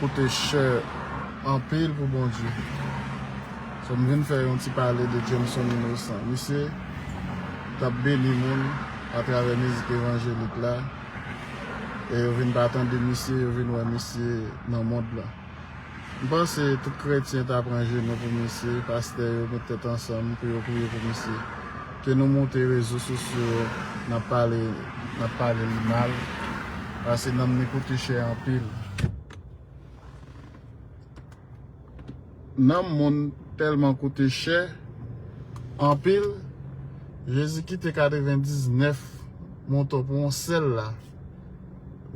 koute chè anpil pou Bondye. So m vin fè yon ti pale de Jameson Innocent. Misye t ap beni moun atravè mizik evanjelik la e yo vin pa tande misye, yo vin wè misye nan mond lan. M panse tout kretyen ta pran jenou pou misye, pastè yo met tèt ansanm pou yo priye pou misye. Ke nou moute rezo sosyo nap pale nap pale li mal pase nanm ni koute chè anpil. Nanm moun telman koute chè anpil jezi kite 99 moto pou yon sel la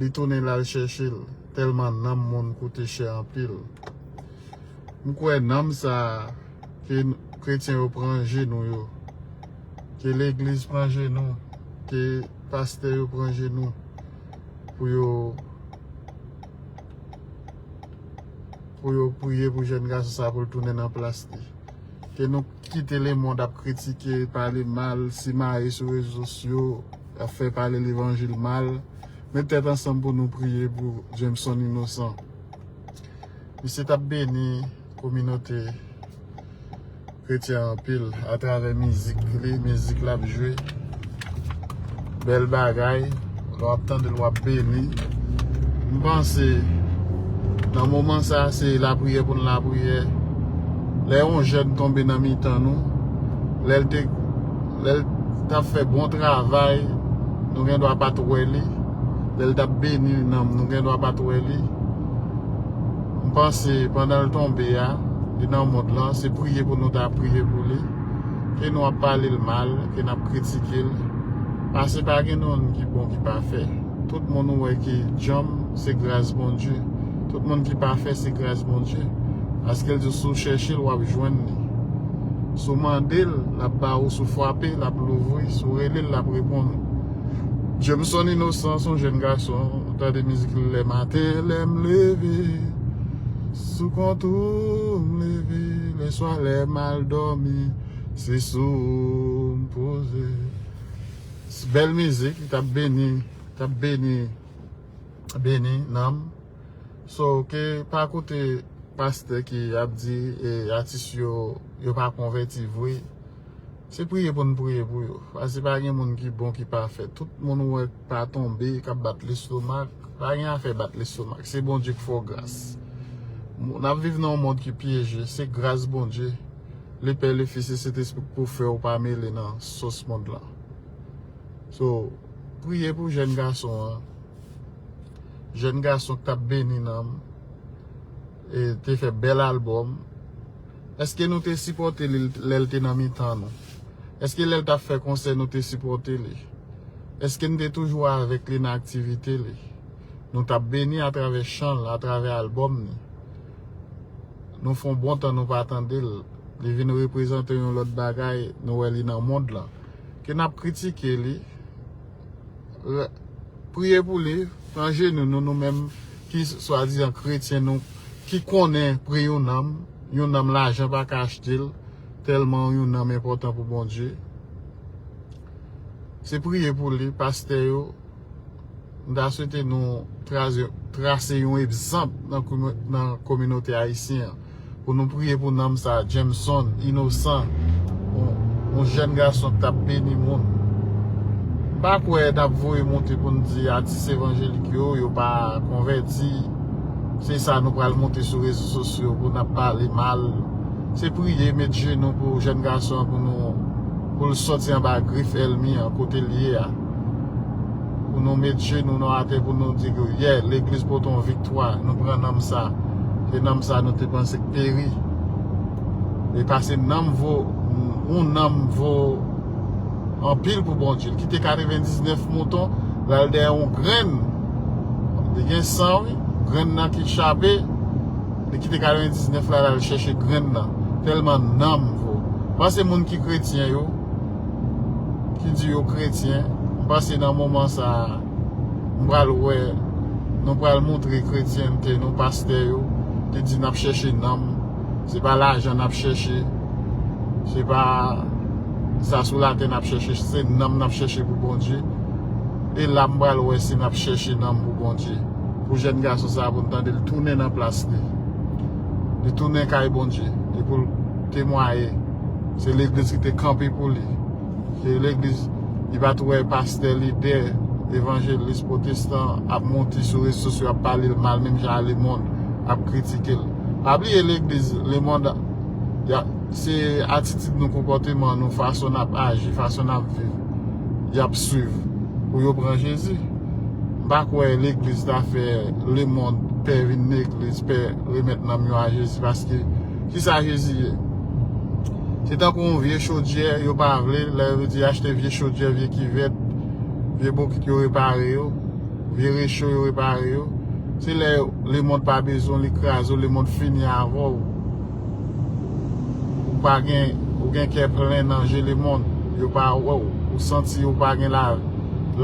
li tounen lal chèchel telman nanm moun koute chè anpil. M kwè nanm sa a ke kretyen yo pran jenou yo, ke legliz pran jenou, ke pastè yo pran jenou pou yo pou yo priye pou jèn gason sa a pou l tounen nan plas li. Ke nou kite lemond ap kritike, pale mal, simaye sou rezo sosyo, ap fè pale levanjil mal. Met tèt ansanm pou nou priye pou Jameson Innocent. Misye tap beni kominote kretyen anpil atravè mizik li, mizik lap jwe. Bèl bagay, lè wap tande l wap beni. M panse nan moman sa se lapriyè pou n lapriyè. Lè yon jèn tonbe nan mitan nou, lè l tap fè bon travay, nou gen dwa pat wè li. Lè l t ap beni nanm, nou gendwa pa t wè li. M panse pandan l tonbe a, li nan mond lan, se priye pou nou ta priye pou li. Ke nou ap pale l mal, ke n ap kritike l, pase pa gen moun ki bon ki pafè. Tout moun ou wè ki djanm, se gras Bondye. Tout moun ki pafè, se gras Bondye. Paske l di w si w chèche l, w ap jwenn li. Si w mande l, l ap ba ou, si w fwape, l ap louvri, si w rele l, l ap reponn ou. Jameson Innocent son jèn gason tande mizik li le maten lèm leve sou kont oum leve le swa lèm al domi se sou oum poze bèl mizik li tap beni tap beni beni nanm so ke pa koute paste ki ap di atis yo yo pa konveti vwe. Se priye pou n priye pou yo. Pase pa gen moun ki bon ki pafè. Tout moun ou wè ki pa tonbe, k ap bat lestomak, pa gen afè bat lestomak. Se Bondye ki fè w gras. N ap viv nan yon mond ki pyeje. Se gras Bondye, Le Pè, Le Fis, Le Sentespri ki pou fè w pa mele nan sos mond lan. So, priye pou jèn gason an. Jèn gason ki t ap beni nanm. te fè bèl album eske nou te sipote li lèl te nan mitan nou eske lèl tap fè konsè nou te sipote li eske nou te toujou avèk li nan aktivite li nou tap beni atravè chanl atravè album ni nou fon bon tan nou pa tandel li vin reprezante yon lòt bagay nou wè li nan mond lan ke nap kritike li. Priye pou li, pran jenou nou nou menm ki swadizan kretyen nou ki konnen pri yon nanm, yon nanm lajan pa ka achte l tèlman yon nanm enpòtan pou Bondye. Se priye pou li, pastè yo, m ta swete nou trase yon egzanp nan kominote ayisyen an. Pou nou priye pou nanm sa Jameson inosan yon jèn gason ki tap beni moun m pa kwè nap voye monte pou nou di atis evanjelik yo yo pa konvèti se sa nou pral monte sou rezo sosyo pou nap pale mal se priye met jenou pou jèn gason pou nou poul sòti anba grif èlmi an kotel ye a pou nou met jenou nou atè pou nou di yè legliz poton vik. 3 nou pran nanm sa e nanm sa nou te panse k peri e pase nanm vo yon nanm vo anpil pou Bondye l kite 99 mouton l al dèyè yon grenn li gen san wi grenn nan ki chape li kite 99 la l al chèche grenn nan tèlman nanm vo m panse moun ki kretyen yo ki di yo kretyen m panse nan moman sa m pral wè nou pral montre kretyente nou pastè yo te di nap chèche nanm se pa lajan nap chèche se pa sa sou latè nap chèche se nanm nap chèche pou Bondye e la m pral wè si nap chèche nanm pou Bondye pou jèn gason sa pou n tande l tounen nan plas li li tounen kay Bondye li pou l temwaye se legliz ki te kanpe pou li. Se legliz li pat wè pastè lidè evanjelis pwotestan ap monte sou rezo sosyo ap pale l mal menm jan a lemond ap kritike l pa bliye legliz lemond se atitid nou konpòteman nou fason nap aji fason nap viv yap swiv pou yo pran jezi m pa kwè legliz ta fè lemond pè vin legliz pè remèt nanm yo a jezi paske Kisa Jezi ye? Se tankou yon vye chodyè yo pa vle, lè yo di achte vye chodyè, vye kivèt, vye bokit yo repare yo, vye recho yo repare yo. Se lè lemond pa bezwen w, li kraze w, lemond fini avè w. Ou pa gen, ou gen kè plen nan je lemond. Yo pa wè w, ou santi ou pa gen lavi.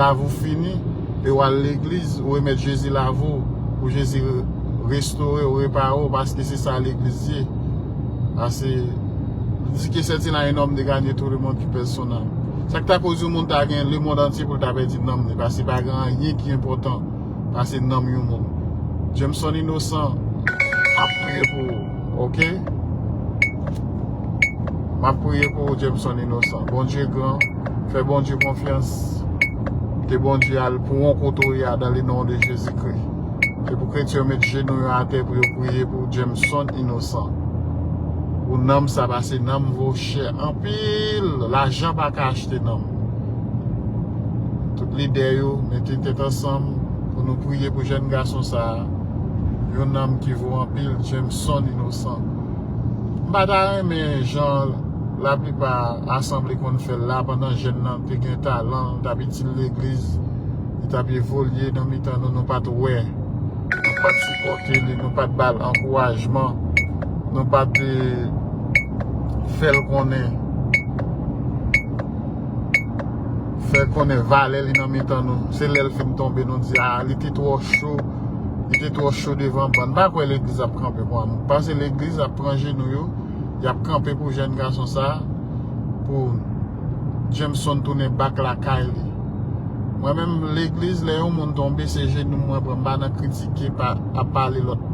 Lavi w fini, e w al legliz, ou remèt Jezi lavi w, pou Jezi. restorew repare w paske se sa legliz ye pase li di ke sètin a un homme de gagner tout le monde ki pèsonal sak ta koz yon moun ta gen le monde antye pou l ta pèdi nanm li pase pa gen anyen ki enpòtan pase nanm yon moun Jameson inosan map priye pou ou ok map priye pou ou Jameson inosan Bondye gran fè Bondye konfyans ke Bondye al pou ou kote ou ye a dan le non de Jezi kri. Se pou kretyen yo met jenou yo atè pou yo priye pou Jameson inosan. Pou nanm sa pase nanm vo chè anpil. Lajan pa ka achte nanm. Tout lidè yo mete tèt ansanm pou nou priye pou jèn gason sa. Yon nanm ki vo anpil Jameson inosan. M pa ta renmen jan la plipa asanble konn fè l la pandan jèn nan te gen talan l tap itil legliz. Li t ap evolye nan mitan nou, nou pa t wè, nou pa t sipòte li, nou pa t ba l ankourajman, nou pa t fè l konnen, fè konnen valè li nan mitan nou. Se lè l fin tonbe nou di, a, li te twò cho, li te twò cho devan bann. M pa kwè legliz ap kanpe pou Annou. M panse legliz ap pran jenou yo, y ap kanpe pou jèn gason sa a, pou. Jameson tounen back lakay li. Mwen menm legliz lè yon moun tonbe se jenou mwen pran mpa nan kritike ap pale lòt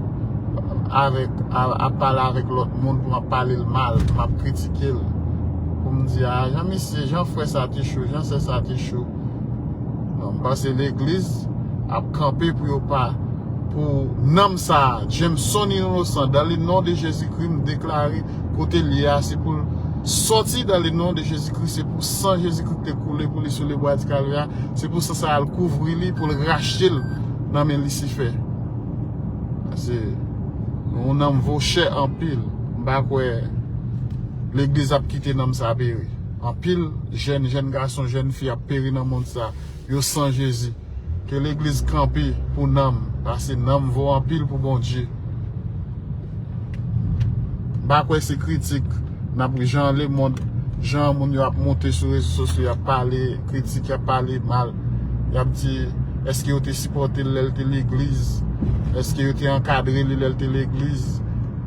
avèk ap pale avèk lòt moun pou map palel mal pou map kritikel poum di aa jan misye jan frè sa te cho jan sè sa te cho non mpase legliz ap kanpe pou yo pa pou nanm sa Jameson Inosan dan le non de Jezikri mdeklare Kotel ye a se poul sòti dan le non de Jezi Kris se pou san Jezi Kris te koule pou li sou le bwa di kalvè a se pou san sa al kouvri li poul rachetel nan men lisifè paske yon nanm vo chè anpil m pa kwè legliz ap kite nanm sa peri anpil jèn jèn gason jèn fi ap peri nan mond sa. yo san jezi ke legliz kanpe pou nanm pase nanm vo anpil pou bondye mpa kwè se kritik nap ri jan le mond jan moun yo ap moute sou rezo sosyo yap pale kritik yap pale mal yap di eske yo te sipotel lel te legliz eske yo te ankadre li lel te legliz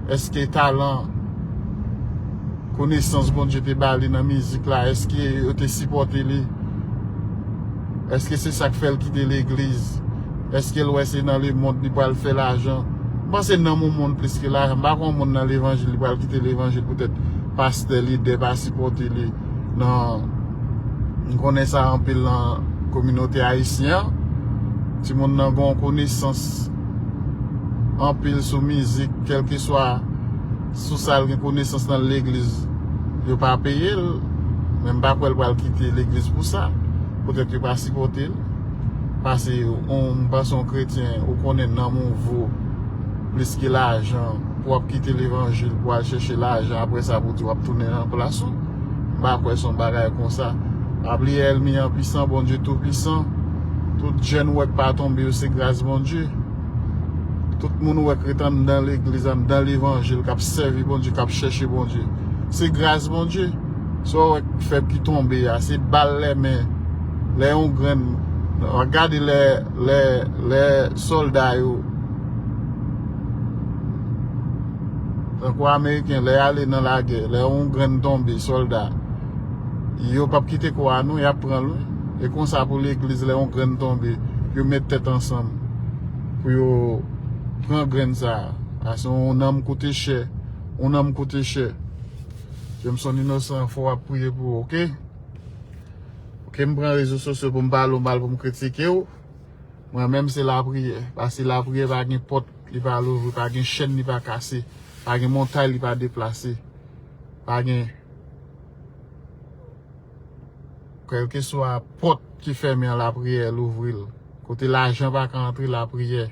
eske talan. konesans Bondye te ba li nan mizik la, èske yo te sipòte li? Èske se sa k fè l kite legliz? Èske l wè se nan lemonn li pral fè lajan? M panse nanm yon moun plis ke lajan. M pa kwè yon moun nan levanjil li pral kite levanjil poutèt pastè, lidè pa sipòte li nan M konnen sa anpil nan kominote ayisyen an. Timoun nan gen yon konesans anpil sou mizik kèlkeswa. Sou sa l gen konesans nan legliz yo pa peye l men m pa kwè l pral kite legliz pou sa poutèt yo pa sipòte l pase on m panse on kretyen ou konnen nanm ou vo plis ke lajan pou wap kite levanjil pou al chèche lajan aprè sa pou w di wap tounen nan plas ou m pa kwè son bagay konsa pa bliye èlmi an pisan Bondye tou pisan tout jèn ou wè k pa tonbe yo se gras Bondye. Tout moun ou wè k ret anndan legliz, anndan levanjil, k ap sèvi Bondye, k ap chèche Bondye, se gras Bondye. Sa ou wè k fè ki tonbe a, se bal lè men, lè yon grenn, wap gade lè, lè, lè sòlda yo, tankou ameriken, lè y ale nan lagè, lè yon grenn tonbe, sòlda. Yo pap kite kwa non yap pranl wi e konsa pou legliz lè yon grenn tonbe yo met tèt ansanm pou yo pran grenn sa paske yon nanm koute chè yon nanm koute chè Jameson inosan fò wap priye pou ou ok ok mpran rezo sosyo poum pale ou mal poum kritikew mwen menm se lapriyè paske lapriyè pa gen pòt li pa louvri pa gen chèn li pa kase pa gen montay li pa deplase pa gen. Kelkeswa pòt ki fèmen an lapriyè louvri l. Kote lajan pa ka antre lapriyè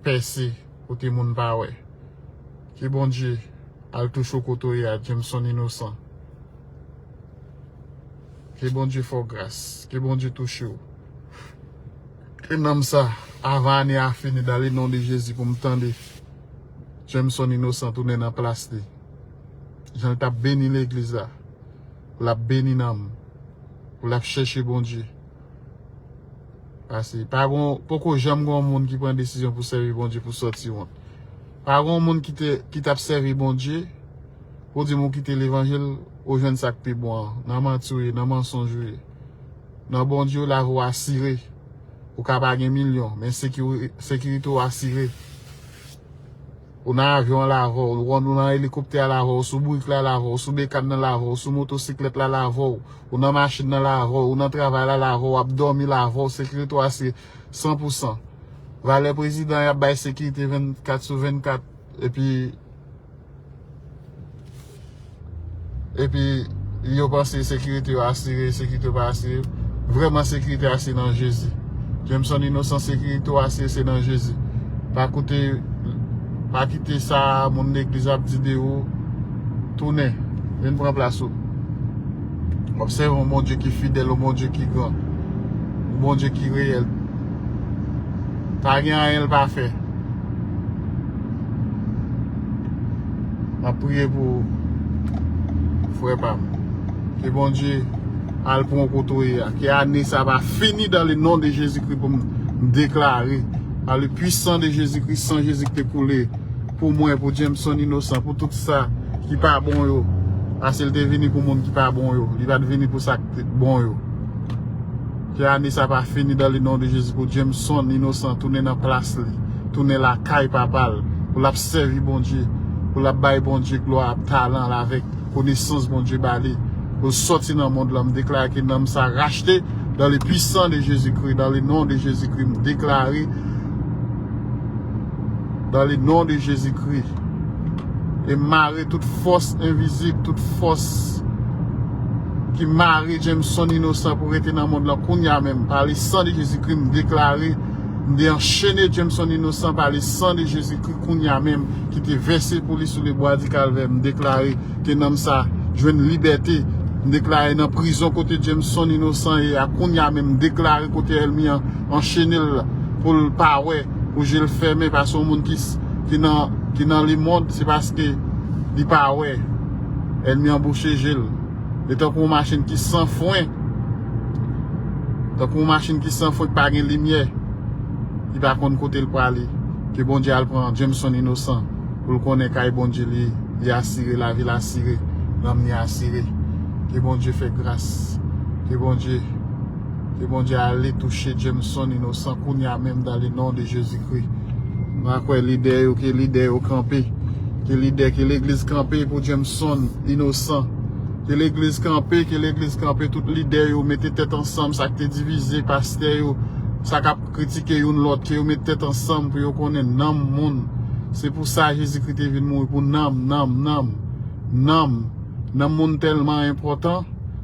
pèse kote moun pa wè. Ke Bondye al touche w kote w ye a Jameson Innocent. Ke Bondye fè w gras. Ke Bondye touche w. Ke nanm sa avan ane a fini dan le non de Jezi pou m tande Jameson Innocent tounen nan plas li. Jan l t ap beni legliz la, pou l ap beni nanm, pou l ap chèche Bondye. Pase, pa gon, poko janm gon moun ki pran desizyon pou sèvi Bondye pou sòti wont. Pa gon moun ki te, ki t ap sèvi Bondye, pou w di m ou kite levanjil, ou jwenn sa k pi bon an. Nan manti w ye, nan mansonj ou ye. Nan Bondye w, lavi w asire. Ou ka pa gen milyon, men sekirite w asire. Ou nan avyon an lavè w, ou nan elikoptè a lavè w, sou bourik la lavè w, sou bekàn nan lavè w, sou motosiklèt la lavè w, ou nan machin nan lavè w, ou nan travay la lavè w, w ap dòmi lavè w, sekirite w a se san pou san. Valè prezidan y ap bay sekirite 24 sou 24 epi. epi yo panse sekirite yo asire, sekirite yo pa asire, vrèman sekirite a se nan Jezi. Jameson Innocent sekirite ou asire se nan Jezi. Pa koute, pa kite sa moun legliz ap di de ou, tounen, vin pran plas ou. Wap sèvi yon Bondye ki fidèl, yon Bondye ki gran, yon Bondye ki reyèl. Pa gen anyen l pa fè. Map priye pou ou frè pam. Ke Bondye al pran w kote w ye a. Ke ane sa va fini dan le non de Jezi Kri pou m deklare pa le pwisan de Jezi Kri san Jezi ki te koule pou mwen pou Jameson Innocent pou tout sa ki pa bon yo pase l te vini pou moun ki pa bon yo li pat vini pou sa ki bon yo. Ke ane sa pa fini dan le non de jezi pou Jameson inosan tounen nan plas li tounen lakay papal pou lap sèvi Bondye pou lap bay Bondye glwa ap talan l avèk konesans Bondye bali pou l sòti nan mond lan m deklare ke nanm sa rachte dan le pwisan de jezi kri dan le non de jezi kri m deklare. Dan le non de Jezi Kri. E m mare tout fòs envizib, tout fòs ki mare Jameson Inosan pou rete nan mond lan kounya menm. Pa le san de Jezi Kri m deklare, m de anchene Jameson Inosan pa le san de Jezi Kri kounya menm ki te vèse pou li sou le bwa di kalvè. M deklare ke nanm sa jwenn libète. M deklare nan prizon kote Jameson Inosan ye a kounya menm m deklare kote èlmi an anchene l pou l pa wè. pou je l fèmen pa se yon moun ki nan le mond se paske li pa wè ènmi an bouche je l li tankou yon machin ki san fren tankou yon machin ki san fren ki pa gen limyè li pa konn kote l prale ke Bondye al pran Jameson Innocent pou l konnen kay Bondye li li asire lavi l asire nanm li asire ke Bondye fè gras ke Bondye. Ke Bondye ale touche Jameson inosan kounya menm dan le non de Jezi Kri. Mwen kwè lidè yo ke lidè yo kanpe ke lidè ke legliz kanpe pou Jameson inosan ke legliz kanpe ke legliz kanpe tout lidè yo mete tèt ansanm sak te divize pastè yo sa kap kritike youn lòt ke yo met tèt ansanm pou yo konnen nanm moun se pou sa Jezi Kri te vin mouri pou nanm nanm nanm nanm nanm moun tèlman enpòtan.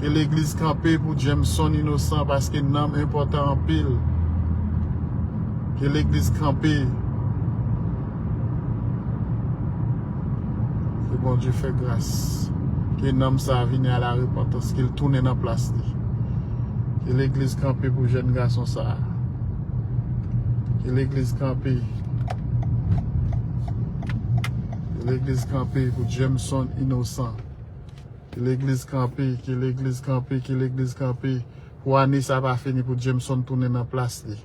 Ke legliz kanpe pou Jameson inosan paske nanm enpotan anpil Ke legliz kanpe Ke Bondye fè gras Ke nanm sa vini a la repantans Kel tounen nan plas li Ke legliz kanpe pou jèn gason sa Ke legliz kanpe Ke legliz kanpe pou Jameson inosan. Ke legliz kanpe, ke legliz kanpe, ke legliz kanpe pou ane sa pa fini pou Jameson tounen nan plas li.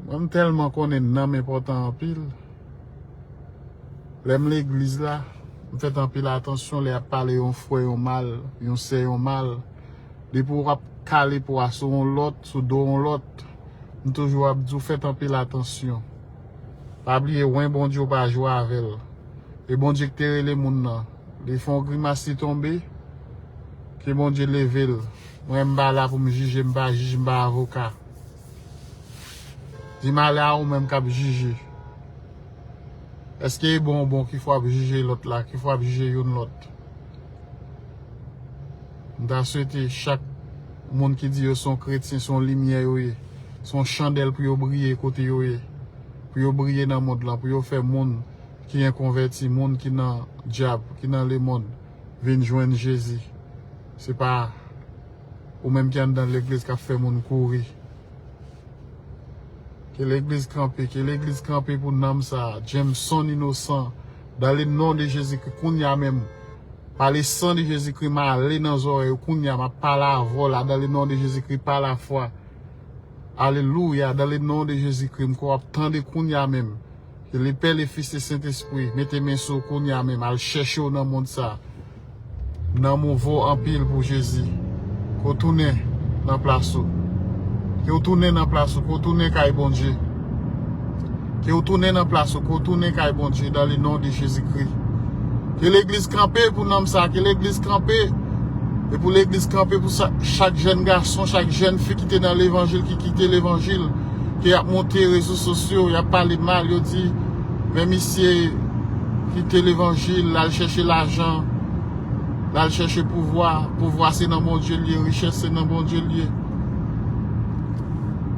Mwen m telman konnen nanm enpotan anpil. Lem legliz la, m fet anpil atansyon le ap pale yon fre yon mal, yon se yon mal. Depi w ap kale pwa sou yon lot, sou do yon lot, m toujou ap di w fet anpil atansyon. Pa bliye wen Bondye ou pa jwe avel e Bondye ki te rele moun nan li fon grimas li tonbe ke Bondye level mwen m pa la poum jije m pa jij m pa avoka di malè a ou menm kap jije eske e bon ou bon kifè wap jije lot la kifè wap jije youn lot. M ta swete chak Moun ki di yo son kretyen son limyè yo ye son chandèl pou yo briye kote yo ye pou yo briye nan mond lan pou yo fè moun ki enkonvèti moun ki nan dyab ki nan lemond vin jwenn jezi se pa ou menm ki anndan legliz kap fè moun kouri ke legliz kanpe ke legliz kanpe pou nanm sa Jameson inosan. Dans le nom de Jésus Christ kounya menm par le sang de Jésus Christ m ale nan zòrèy yo kounya map pale avèw la dans le nom de Jésus Christ par la foi Alléluia dans le nom de Jésus Christ m kwè wap tande kounya menm ke le pè le fils le sentespri mete men sou w kounya menm al chèche w nan mond sa. Nanm ou vo anpil pou Jezi. Ke w tounen nan plas ou. Ke w tounen nan plas ou. Ke w tounen kay Bondye. Ke w tounen nan plas ou. Ke w tounen kay Bondye dan le non de Jezi Kri. Ke legliz kanpe pou nanm sa. Ke legliz kanpe. E pou legliz kanpe pou sa. Chak jèn gason. Chak jèn fi ki te nan levanjil. Ki kite levanjil. Ke yap monte rezo sosyo. Yap pale mal. Yo di. Men misye kite levanjil lal chèche lajan, lal chèche pouvwa, pouvwa se nan Bondye li ye, richès se nan Bondye li ye.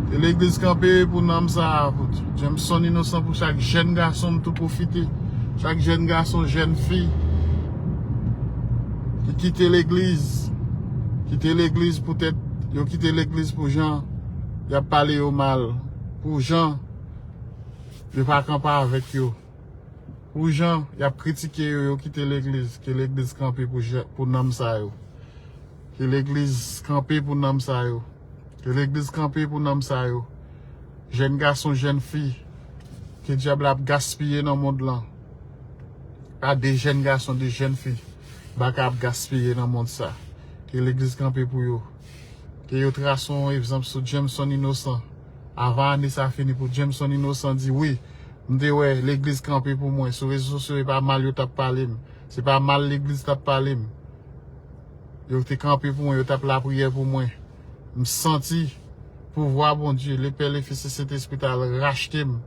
Ke legliz kanpe pou nanm sa a, Jameson Innocent pou chak jèn gason m tou pwofite, chak jèn gason, jèn fi ki kite legliz, kite legliz poutèt yo kite legliz pou jan yap pale yo mal, pou jan. Yo pa kanpe avèk yo. Pou jan yap kritike yo yo kite legliz ke legliz kanpe pou nanm sa yo ke legliz kanpe pou nanm sa yo ke legliz kanpe pou nanm sa yo jèn gason jèn fi ke dyab la ap gaspiye nan mond lan pa de jèn gason de jèn fi baka ap gaspiye nan mond sa ke legliz kanpe pou yo ke yo trase yon egzanp sou Jameson inosan. Avan ane sa fini pou Jameson Innocent di wi m te wè legliz kanpe pou mwen sou rezo sosyo e pa mal yo tap pale m se pa mal legliz tap pale m yo te kanpe pou mwen yo tap lapriyè pou mwen m santi pouvwa Bondye le pè le fis e sentespri ta al rachte m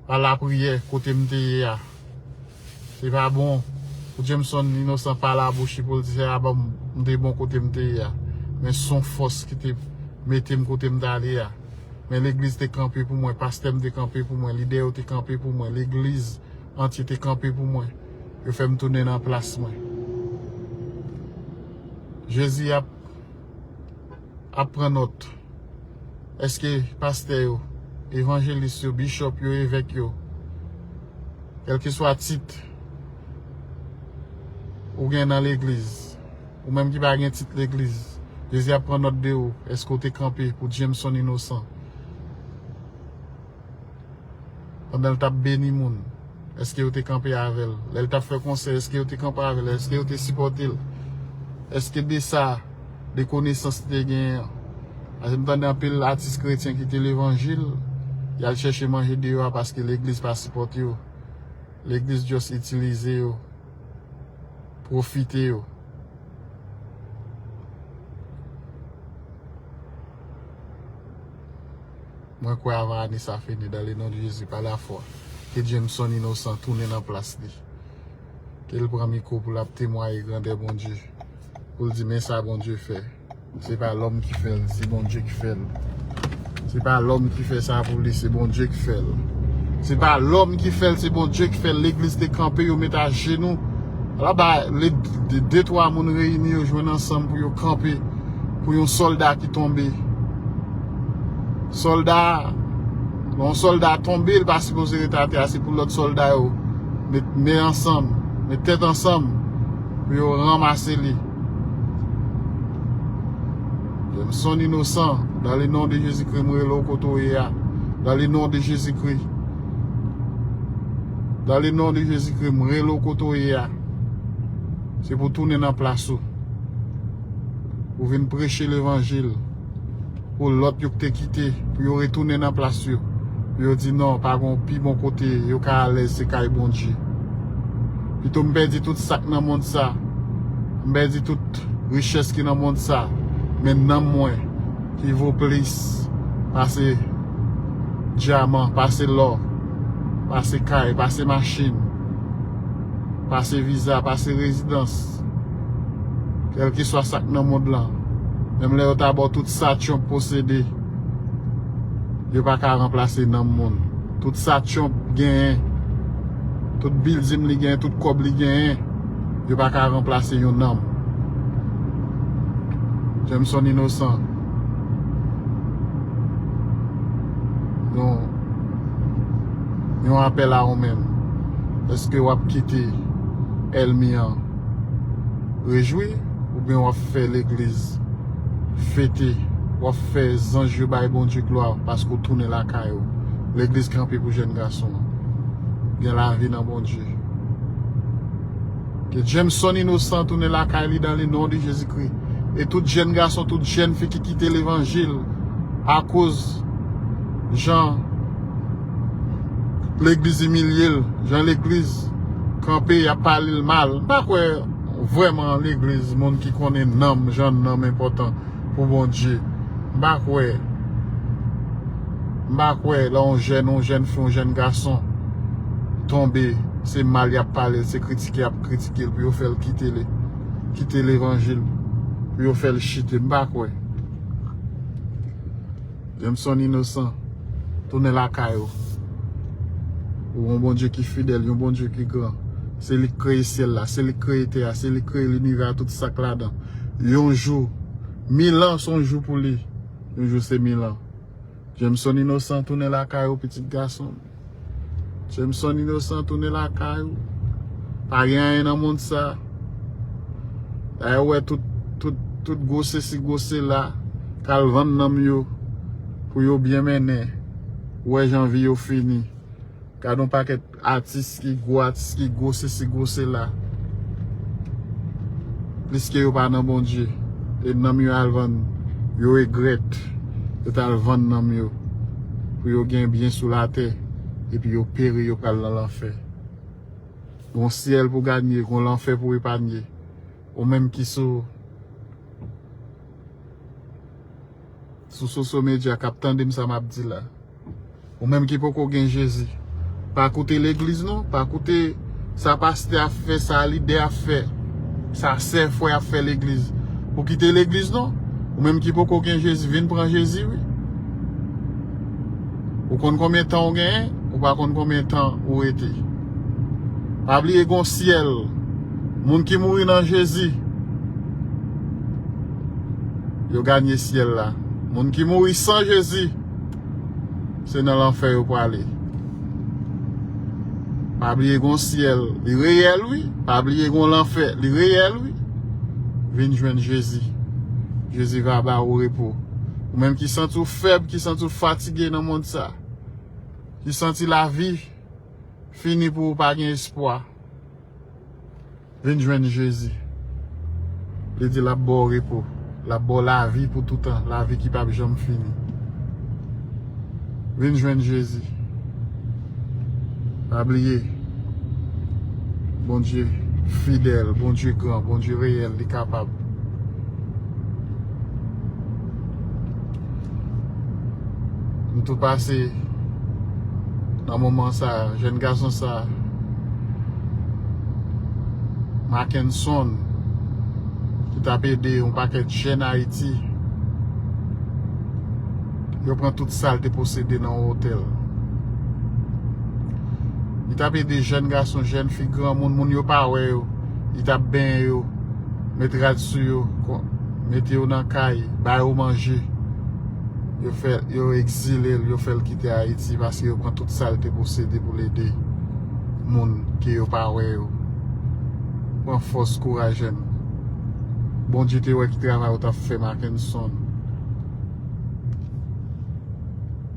pa lapriyè kote m te ye a. Li pa bon pou Jameson inosan pa la bouch li pou l di se aba m te bon kote m te ye a. Men s on fòs ki te mete m kote m t ale a. Men legliz te kanpe pou mwen, pastè m te kanpe pou mwen, lidè yo te kanpe pou mwen, legliz antye te kanpe pou mwen. Yo fè m tounen nan plas mwen. Jezi ap. ap pran nòt. Eske pastè yo, evanjelis yo, bishop yo, evèk yo, kèlkeswa tit ou gen nan legliz, ou menm ki pa gen tit legliz, Jezi ap pran nòt de ou, eske ou te kanpe pou Jameson Innocent? pandan l t ap beni moun? Èske yo te kanpe avè l lè l t ap fè konsèy? Èske yo te kanpe avè l? Èske yo te sipòte l? Èske de sa, de konesans li te genyen an? Paske m tande anpil atis kretyen kite levanjil, y al chèche manje deyò a paske legliz pa sipòte yo. Legliz just itilize yo, pwofite yo. Mwen kwè avan ane sa fini dan le non de Jezi pa la fwa ke Jameson inosan tounen nan plas li ke l pran mikwo pou lap temwaye grandè Bondye pou l di men sa Bondye fè se pa lòm ki fè l se Bondye ki fè l se pa lòm ki fè sa pou li se Bondye ki fè l se pa lòm ki fè l se Bondye ki fè l legliz te kanpe yo met ajenou ala ba le de twa moun reyini yo jwenn ansanm pou yo kanpe pou yon sòlda ki tonbe. Solda, lè yon solda tonbe, li pa sipoze rete atè a, se pou lòt solda yo met men ansanm, met tèt ansanm pou yo ranmase li. Jameson inosan, dan le non de Jezikri m rele w kote w ye a, dan le non de Jezikri, dan le non de Jezikri m rele w kote w ye a, se pou tounen nan plas ou, pou vin preche levanjil. Pou lòt yo ki te kite, pou yo retounen nan plas yo. Pou yo di non, pa gen yon pi bon kote yo ka alèz se kay Bondye. Pito m pèdi tout sa k nan mond sa, m pèdi tout richès ki nan mond sa, men nanm mwen ki vo plis pase dyaman, pase lò, pase kay, pase machin, pase viza, pase rezidans. Trump. Kèlkeswa sa k nan mond lan, menm lè yo ta ba w tout sa Trump posede, yo pa ka ranplase nanm moun. Tout sa Trump genyen, tout bilding li genyen, tout kòb li genyen, yo pa ka ranplase yon nanm. Jameson Innocent. Yon apèl a ou menm. Eske w ap kite èlmi an rejwi oubyen w ap fè legliz fete, w ap fè zanj yo bay Bondye glwa paske w tounen lakay ou? Legliz kanpe pou jèn gason an gen lavi nan Bondye. Ke Jameson inosan tounen lakay li dan le non de Jezi Kri. E tout jèn gason, tout jèn fi ki kite levanjil akoz jan legliz imilye l, jan legliz kanpe yap pale l mal. M pa kwè vrèman legliz moun ki konnen nanm, jan nanm enpòtan. pou Bondye. M pa kwè, m pa kwè lè yon jèn, yon jèn fi, yon jèn gason tonbe, se mal y ap pale l, se kritike y ap kritike l pou yo fè l kite le, kite levanjil, pou yo fè l chite. M pa kwè. Jameson Innocent tounen lakay ou Pou yon Bondye ki fidèl yon Bondye ki gran se li ki kreye syèl la se li ki kreye tè a se li ki kreye linivè a tout sak ladan yon jou mil an son jou pou li yon jou se mil an Jameson Innocent tounen lakay ou pitit gasonm. Jameson inosan tounen lakay ou. Pa gen anyen nan mond sa. Dayè ou wè tout tout tout gwo sesi gwo sela k al vann nanm yo pou yo byen mennen. Ou wè jan vi yo fini. Gad on pakèt atis ki gwo atis ki gwo sesi gwo sela. Pliske yo pa nan Bondye. E nanm yo al vann. Yo egrèt yo t al vann nanm yo. pou yo gen byen sou latè, epi yo peri, yo pral nan lanfè. Gon syèl pou ganye, gon lanfè pou epanye. Ou menm ki sou sou Soso Media kap tandem sa map di la. Ou menm ki poko gen Jezi, pa koute legliz non, pa koute. Sa pastè ap fè sa lidè ap fè sa sè fwè ap fè legliz ou kite legliz non ou menm ki poko gen jezi vin pran jezi wi ou konn konbyen tan ou genyen ou pa konn konbyen tan ou rete pa bliye gon syèl moun ki mouri nan jezi yo ganye syèl la moun ki mouri san jezi. Se nan lanfè yo prale. Pa bliye gon syèl li reyèl wi pa bliye gon lanfè li reyèl wi vin jwenn jezi jezi va ba ou repo ou menm ki santi ou fèb ki santi ou fatige nan mond sa ki santi lavi fini pou ou pa gen espwa. Vin jwenn Jezi. Li di l ap ba w repo. L ap ba w lavi pou toutan, lavi ki pap janm fini. Vin jwenn Jezi. Pa bliye, Bondye fidèl, Bondye gran, Bondye reyèl, li kapab. M tou pase nan moman sa jèn gason sa Makenson ki t ap ede yon pakèt jèn Ayiti yo pran tout sa l te posede nan yon otèl li t ap ede jèn gason jèn fi granmoun moun yo pa wè yo li t ap benyen yo. Met rad sou yo, mete yo nan kay, ba yo manje. Yo fè, yo ekzile l, yo fè l kite Ayiti paske yo pran tout sa l te posede pou l ede moun ke yo pa wè yo. Pran fòs, kouraj jèn. Bondye te wè ki travay ou t ap fè Makenson.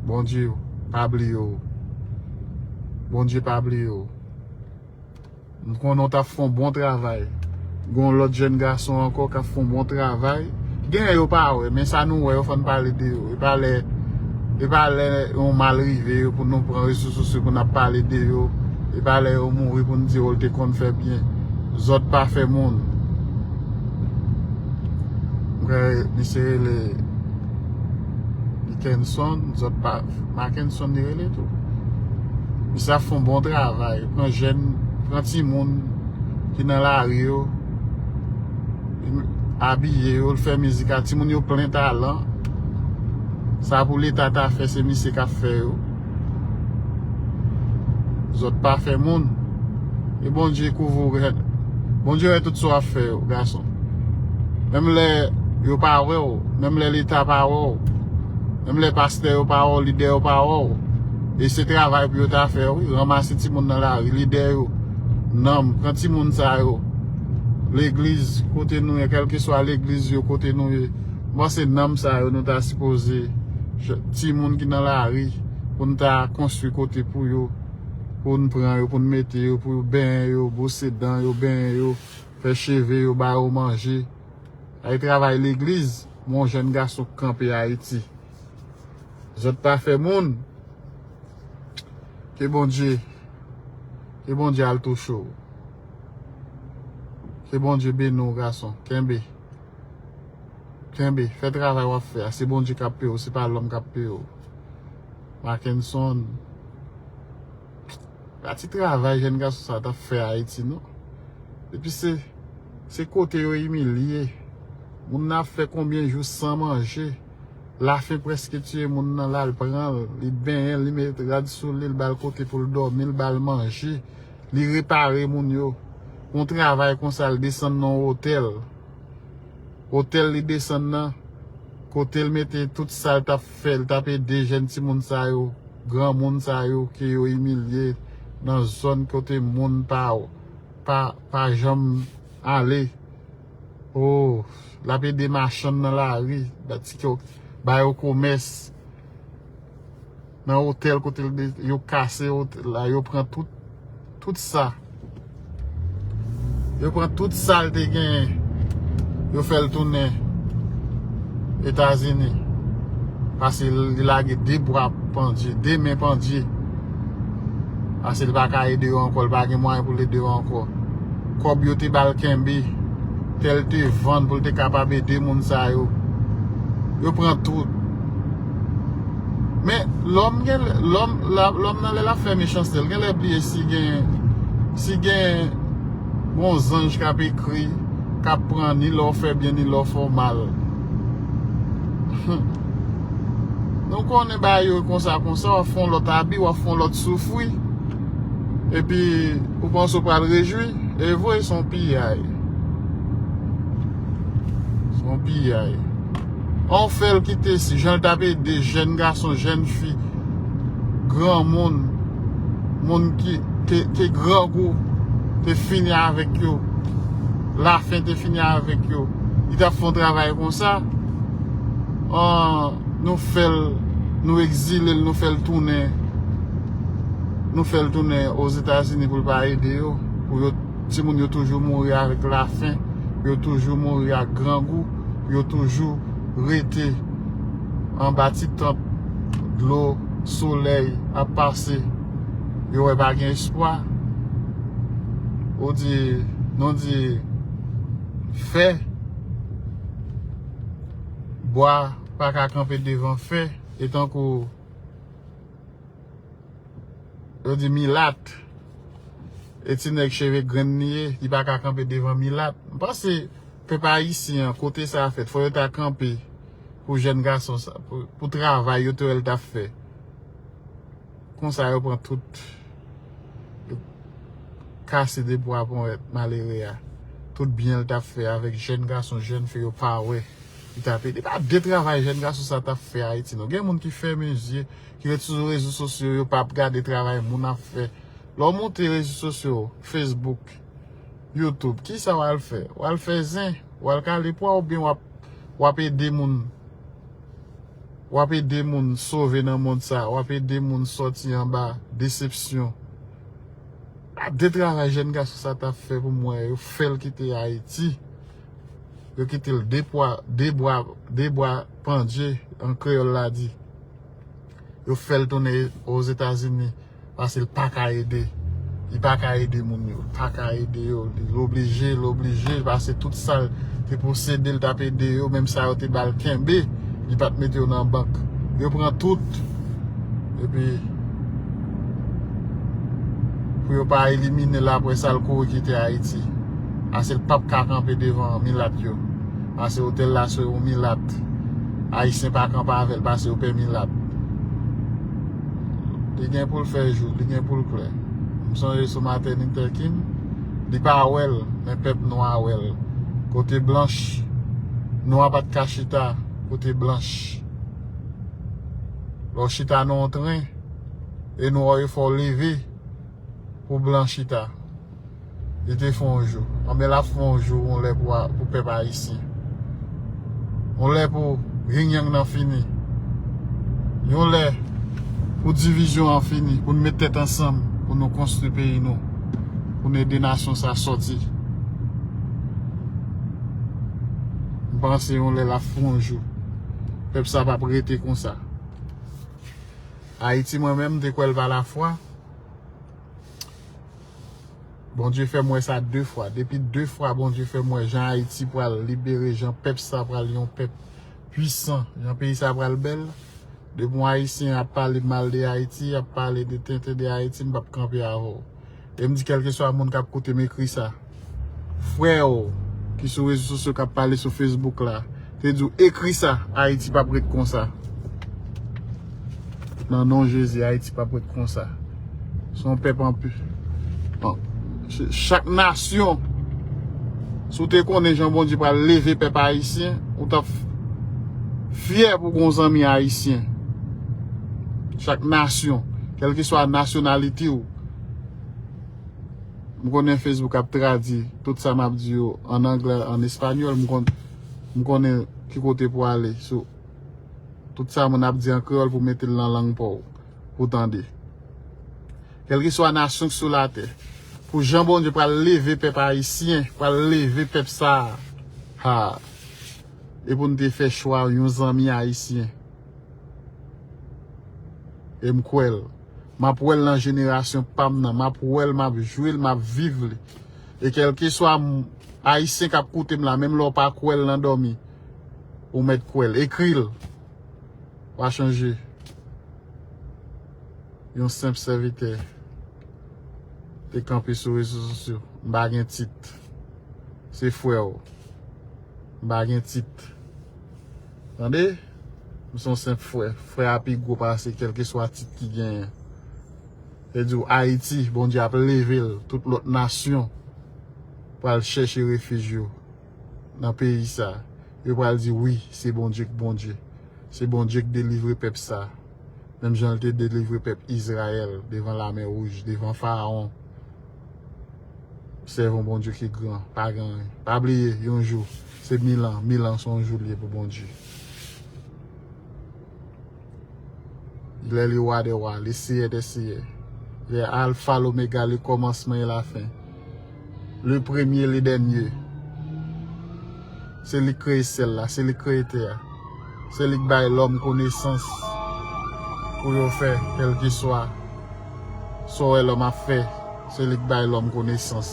Bondye pa bliye w. Bondye pa bliye w. M konnen w t ap fè yon bon travay. Gen yon lòt jèn gason ankò k ap fè yon bon travay. Gen lè yo pa wè, men sa nou wè yo fò n pale de yo. E pa lè yon mal rive yo pou nou pran rezo sosyo pou n ap pale de yo. E pa lè yo mouri pou n di yo te konn fè byen. Zòt pa fè moun. M kwè misye rele Dikenson. Makenson li rele tou. Misye ap fon bon travay. Yo pran jèn, pran timoun ki nan lari yo. Abiye yo, l fè mizik a. Timoun yo plen talan. Sa pou leta ta fè se misye k ap fè yo. Zòt pa fè moun. E Bondye kouvri w rèd. Bondye wè tout sa w ap fè yo gason. Menm lè yo pa wè w. Menm lè leta pa wè w. Menm lè pastè yo pa wè w, lidè yo pa wè w, e se travay pou yo ta fè wi, ranmase timoun nan lari, lidè yo, nanm, pran timoun sa yo, legliz kote nou ye, kèlkeswa legliz yo kote nou ye, m panse nanm sa yo nou ta sipoze, timoun ki nan lari, pou n ta konstwi kote pou yo, pou n pran yo, pou n mete yo, pou yo benyen yo, bwose dan yo, benyen yo, fè cheve yo, ba yo manje, sa e travay legliz. Mon jèn gason k kanpe Ayiti. Zòt pa fè moun. Ke Bondye, ke Bondye al touche w. Ke Bondye beni w gason. Kenbe. Kenbe. Fè travay w ap fè a. Se Bondye k ap peye w, se pa lòm k ap peye w. Makenson. Pa ti travay jèn gason sa tap fè Ayiti non. Epi se se kote yo imilye moun nan ap fè konbyen jou san manje. Lafen preske tiye moun nan lal pran l, li benyen l, li met rad sou li, li ba l kote pou l dòmi, li ba l manje, li repare moun yo. Yon travay konsa li desann nan yon otèl. Otèl li desann nan kote l mete tout sa l tap fè, li tap ede jèn timoun sa yo. Granmoun sa yo ke yo imilye nan zòn kote moun pa janm ale ooh lap ede machann nan lari ba yo komès nan otèl kote yo kase otèl la yo pran tout sa. Yo pran tout sal te genyen yo fèl tounen etazini pase li lage 2 bwa pandye 2 men pandye pase li paka ede yo ankò li pa gen mwayen pou ede yo ankò kòb yo te bal kenbe tèl te vann pou li te kapab ede moun sa yo yo pran tout Men, lòm gen lè, lòm, lòm nan lè l ap fè mechanste l gen lè bliye si gen, si gen yon zanj k ap ekri, k ap pran ni lè w fè byen ni lè w fè w mal. Hum! Nou konnen bagay yo konsa konsa, w ap fè yon lòt abi, w ap fè yon lòt soufri, epi ou panse ou pral rejwi. Evre, se yon piyay. Se yon piyay. Paw fèl kite si janl tap ede jèn gason jèn fi granmoun moun ke grangou te fini avèk yo la fen te fini avèk yo li tap fon travay konsa an nou fèl nou egzilel nou fèl tounen nou fèl tounen ozetazini poul pa ede yo pou yo timoun yo toujou mouri avèk la fen yo toujou mouri ak grangou. pou yo toujou rete anba ti tant dlo solèy ap pase yo wè pa gen espwa ou di nou di fè bwa pa ka kanpe devan fè e tankou yo di milat e ti nèg cheve grenn li ye li pa ka kanpe devan milat m panse Pèp ayisyen an kote sa fèt fò yo ta kanpe pou jèn gason sa pou travay yo te wèl tap fè konsa yo pran tout yo kase de bwa pou et malere a tout byenl tap fè avèk jèn gason jèn fi yo pa wè li tap ede pa de travay jèn gason sa tap fè ayiti non gen moun ki fèmen zye ki ret sou rezo sosyo yo pap gade travay moun ap fè lè w monte rezo sosyo facebook. YouTube kisa wal fè wal fè zen wal kale pwa oubyen wap wap ede moun wap ede moun sove nan mond sa wap ede moun sòti anba desepsyon gad de travay jèn gason sa tap fè pou mwen yo fèl kite ayiti yo kitel de pwa de bwa de bwa pandye an kreyòl la di yo fèl tounen ozetazini. Paske l pa ka ede. Li pa ka ede moun yo. Li pa ka ede yo. Li oblije, li oblije. Paske tout sa l te posede, li t ap ede yo. Menm sa yo te ba l kenbe, li pa t mete yo nan bank. Yo pran tout. E pi, pou yo pa elimine l apre sa, l kouri kite Ayiti. Paske l pa p ka kanpe devan milat yo. Paske yo te la sou yon milat. Ayisyen pa kanpe avè l paske yo pè milat. Li gen poul fè jou, li gen poul klè. M sonje sou Martin Luther King, li pa wè l, men pèp nwa a wè l. Kote blanch, nwa pat ka chita kote blanch. Lè w chita nan yon tren, e nwa w yo fè w leve pou blan chita. Li te fè yon jou. Anben lap fè yon jou yon lè pou pèp ayisyen. Yon lè pou yin yang nan fini. Yon lè pou divizyon an fini. Pou nou met tèt ansanm. Pou nou konstri peyi nou. Pou nou ede nasyon sa soti. M panse yon lè lap fè yon jou. Pèp sa pap rete konsa. Ayiti mwen menm m te kwè l pa la fwa. Bondye fèm wè sa 2 fwa depi 2 fwa Bondye fèm wè jan ayiti pral libere jan pèp sa pral yon pèp pwisan jan peyi sa pral bèl depi yon ayisyen ap pale mal de ayiti ap pale de tenten de ayiti m pap kanpe avèw e m di kèlkeswa moun kap koutem ekri sa. frè w ki sou rezo sosyo kap pale sou Facebook la te di w ekri sa Ayiti pap ret konsa nan non Jezi Ayiti pap ret konsa se yon pèp anpi chak nasyon si w te konnen jan Bondye pral leve pèp Ayisyen ou tap fyè pou gen yon zanmi Ayisyen chak nasyon kelkeswa nasyonalite w. M konnen Facebook ap tradi tout sa map di yo an anglè, an español, m konnen ki kote pou ale sou tout sa moun ap di an kreyòl pou mete l nan lang pa w pou w tande. Kèlkeswa nasyon ki sou latè, pou jan Bondye pral leve pèp ayisyen, pral leve pèp sa a, haa, e pou n te fè chwa yon zanmi ayisyen. E m kwè l. M ap wè l nan jenerasyon pa m nan. M ap wè l, m ap jwi l, m ap viv li. E kèlkeswa Ayisyen k ap koute m la, menm lè w pa kwè l nan dòmi, ou mèt kwè l. Ekri l. Pa chanje. Yon senp sèvitè te kanpe sou rezo sosyo. M pa gen tit. Se frè w. M pa gen tit. Tande! M se yon senp frè. Frè a pi gwo pase kèlkeswa tit ki genyen. Se di w Ayiti, Bondye ap leve l, tout lòt nasyon pral chèche refij yo nan peyi sa. Yo pral di wi, se Bondye k Bondye. Se Bondye k delivre pèp sa. Menm jan l te delivre pèp Izrayèl devan lamè wouj, devan Farawon. Sèv yon Bondye ki gran. Pa gen anyen. Pa bliye, yon jou. Se mil an, mil an son jou li ye pou Bondye. Lè li Wa dè wa, li Seyè dè seyè. Li Alfa, Lomega, le kòmansman e la fen. Le premye, le dènye. Se li k kreye syèl la, se li k kreye tè a. Se li k bay lòm konesans pou yo fè kèlkeswa sa w wè lòm ap fè. Se li k bay lòm konesans.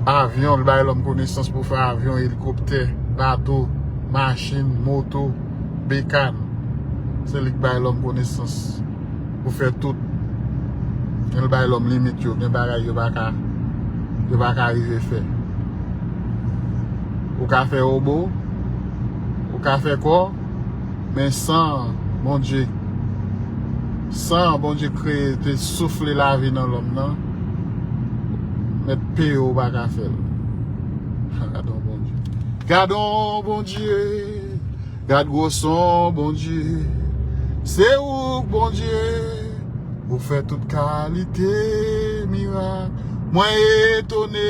Avyon, li bay lòm konesans pou fè avyon, elikoptè, bato, machin, moto, bekan. Se li k bay lòm konesans pou fè tout. Men li bay lòm limit yo, gen bagay yo pa ka, yo pa ka rive fè. Ou ka fè wobo, ou ka fè kò. Men san an Bondye, san an Bondye kreye te soufle lavi nan lòm nan, mèt P yo ou pa ka fè l. Gad on Bondye. Gad on Bondye. Gad gwo son Bondye. Se ou k Bondye. Ou fè tout kalite mirak. Mwen etone.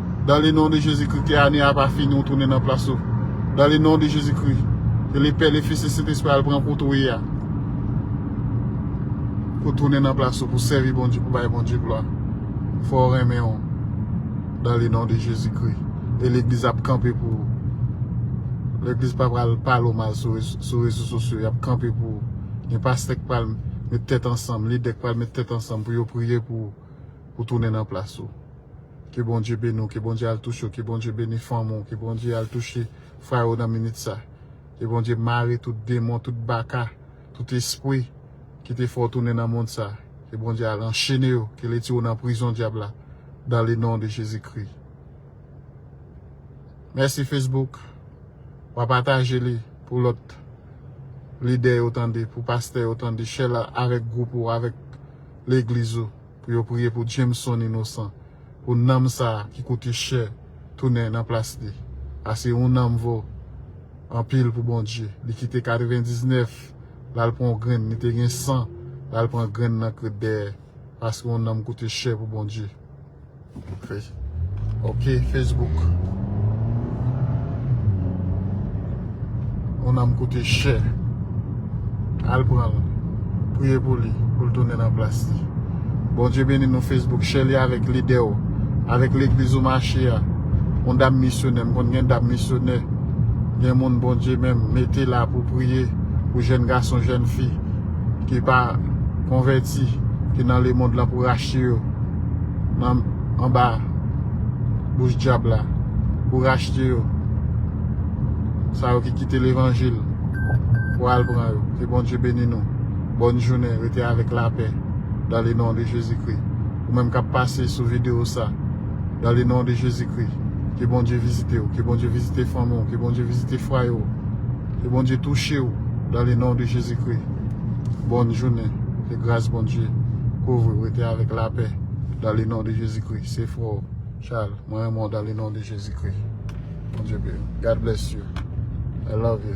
Dan le non de Jezi Kri ke ane a pa fini ou tounen nan plas ou dan le non de Jezi Kri ke le pè le fis le sentespri al pran kote ou ye a pou tounen nan plas ou pou sèvi Bondye pou bay Bondye glwa fò ou renmen ou dan le non de Jezi Kri e legliz ap kanpe pou ou legliz pa pral pale ou mal sou rezo sosyo yap kanpe pou ou gen pastè ki pral met tèt ansanm lidè ki pral met tèt ansanm pou yo priye pou ou pou tounen nan plas ou. Ke Bondye beni w, ke Bondye al touche w, ke Bondye beni fanmi w, ke Bondye al touche frè yo nan minit sa. Ke Bondye mare tout demon, tout baka, tout espri ki te fè w tounen nan mond sa. Ke Bondye al anchene yo, ke l retire w nan prizon dyab la dan le non de Jezi Kri. Mèsi Facebook, wa pataje li pou lòt lidè yo tande, pou pastè yo tande, share la avèk gwoup ou, avèk legliz ou. Pou yo priye pou Jameson inosan. Pou nanm sa ki koute chè tounen nan plas li. Ase yon nanm vo anpil pou Bondye. Li kite 99 lal pran yon grenn li te gen 100 lal pran grenn nan krèt dèyè. Paske yon nanm koute chè pou Bondye. Ok Facebook Yon nanm koute chè Al pranl Priye pou li Poul tounen nan plas li Bondye beni nou Facebook Chè li avèk lidew Avèk legliz ou mache a Yon dam misyonè M konn gen dam misyonè Gen moun Bondye menm mete la pou priye Pou jèn gason jèn fi Ki pa konvèti Ki nan lemond la pou rachte yo. nan anba bouch dyab la pou rachte yo sa yo ki kite levanjil pou al pran yo ke Bondye beni nou bòn jounen rete avèk lapè dan le non de Jezi Kri ou menm kap pase sou video sa dan le non de Jezi Kri ke Bondye vizitew ke Bondye vizite fanmi w ke Bondye vizite fwaye w ke Bondye touchew dan le non de Jezi Kri bòn jounen. Ke gras Bondye kouvri w rete avèk lapè dan le non de Jezi Kri se frè w Chal mwen renmen w dan le non de Jezi Kri Bondye beni w God bless you I love you.